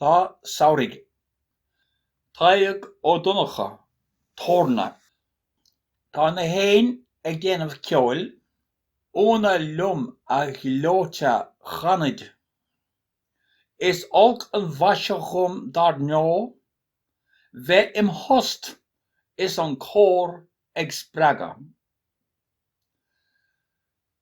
Lá Samhraidh, Tadhg Ó Donnchadha, Torna. Tá na héin ag déanamh ceoil, ionadh liom a ghleoite chanaid. Is olc an mhaise dhom dar ndó' Bheith im thost is an cór ag spreagadh.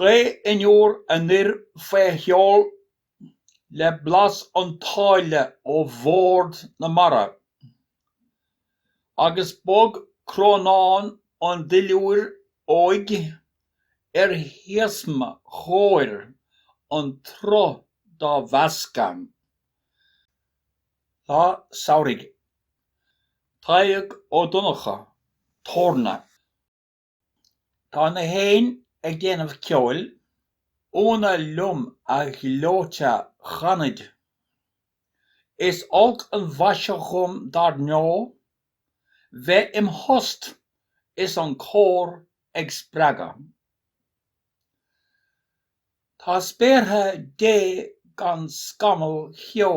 Gaoth fhionnuar anoir faoi sheol le blas an tsáile ó bhord na mara agus bog crónán an duilliúir óig ar shiosma chóir an tsruth dá mheascadh. Lá Samhraidh. Tadhg Ó Donnchadha, Torna. Tá na héin ag déanamh ceoil. Ionadh liom a ghleoite chanaid. Is olc an mhaise dhom dar ndó' Bheith im thost is an cór ag spreagadh. Tá spéartha Dé gan scamall cheo.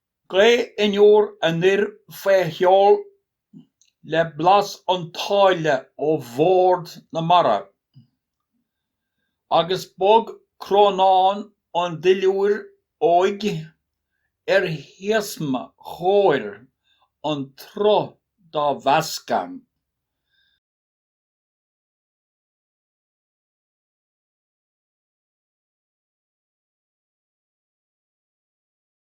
Gaoth fhionnuar anoir faoi sheol le blas an tsáile ó bhord na mara. Agus bog crónán an duilliúir óig ar shiosma chóir an tsruth dá mheascadh.